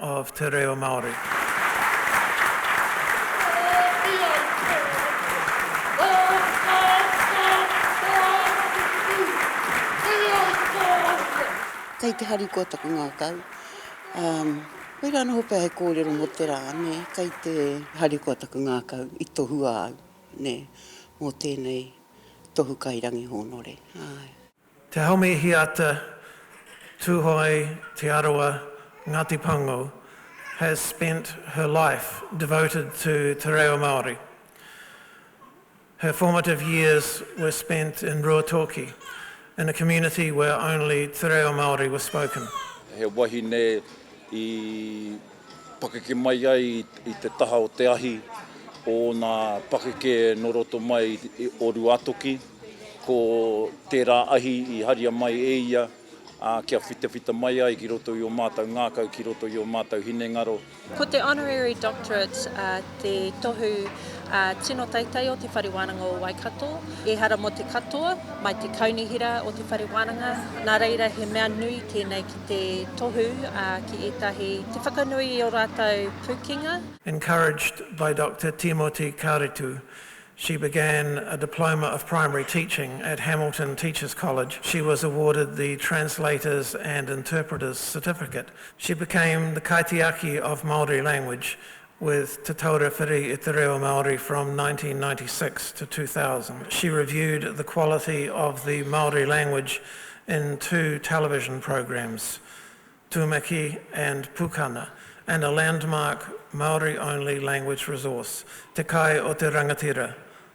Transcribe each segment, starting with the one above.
of te reo Māori. Kei te harikoa taku ngākau. Um, koirā noho pea he kōrero mō te rā, nē, kei te harikoa taku ngākau i tohua au, nē, mō tēnei tohu kairangi hōnore. Ai. Te Homi Hiata, Tuhoe, Te Arawa, Ngati Pango, has spent her life devoted to te reo Māori. Her formative years were spent in Ruatoki, in a community where only te reo Māori was spoken. He wahine i pakeke mai ai i te taha o te ahi o ōna pakeke nō roto mai o Ruātoki, ko tērā ahi i haria mai e ia kia whitawhita mai ai ki roto i ō mātou ngākau, ki roto i ō mātou hinengaro. Ko te Honorary Doctorate te tohu tino teitei o Te Whare Wānanga o Waikato, ehara mō te katoa, mai te Kaunihera o Te Whare Wānanga, nā reira he mea nui tēnei ki. Te tohu ki ētahi, te whakanui i ō rātou pūkenga. Encouraged by Doctor Timoti Karetu, she began a Diploma of Primary Teaching at Hamilton Teachers College. She was awarded the Translators and Interpreters Certificate. She became the Kaitiaki of Māori Language with Te Taura Whiri i te Reo Māori from 1996 to 2000. She reviewed the quality of the Māori language in two television programs, Tumeki and Pukana, and a landmark Māori-only language resource, Te Kai o te Rangatira,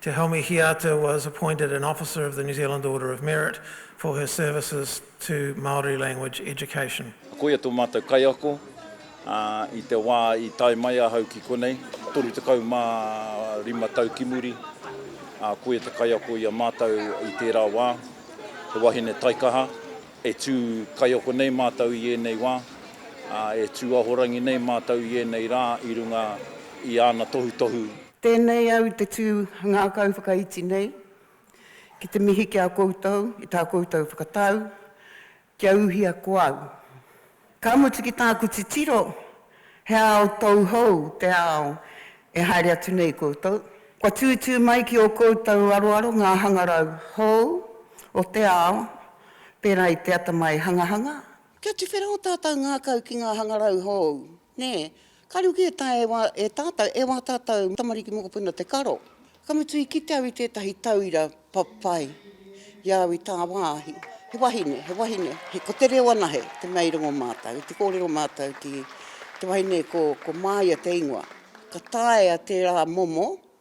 Te Homi Hiata was appointed an Officer of the New Zealand Order of Merit for her services to Māori language education. Koia tō mātou kaiako i te wā i tae mai ahau ki konei, 35 tau ki muri, ā, koia te kaiako i a mātou i tērā wā, he wahine taikaha, e tū kaiako nei mātou i ēnei wā, ā, e tū ahorangi nei mātou i ēnei rā i runga i āna tohutohu. Tēnei au i te tū ngākau whakaiti nei, ki te mihi ki a koutou i tā koutou whakatau kia uhia ko au. Ka mutu ki tāku titiro, he ao tauhou te ao e haere atu nei koutou. Kua tūtū mai ki ō koutou aroaro ngā hangarau hou o te ao, pērā i te atamai hangahanga. Kia tuwhera ō tātou ngākau ki ngā hangarau hou, nē, Ka ruku e tae e wa e tatou, e wa tatou tamariki mokopuna te karo. Ka mutu i kite au i tetahi tauira papai i au i tawahi, he wahine, he wahine, he ko te reo anahe te mea i rongo matou, te korero matou ki te wahine ko ko Maia te ingoa. Ka taea tera momo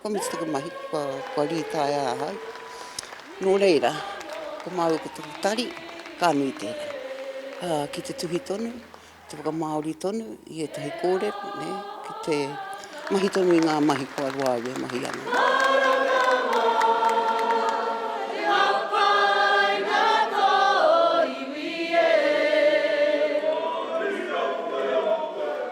Kua mitu taku mahi, kua rītaia ahau. Nō reira, ko māu ko taku tari, ka nui tērā. Ki te tuhi tonu, ki te whakamāori tonu i ētahi kōrero, ki te mahi tonu i ngā mahi kua roa au e mahi ana.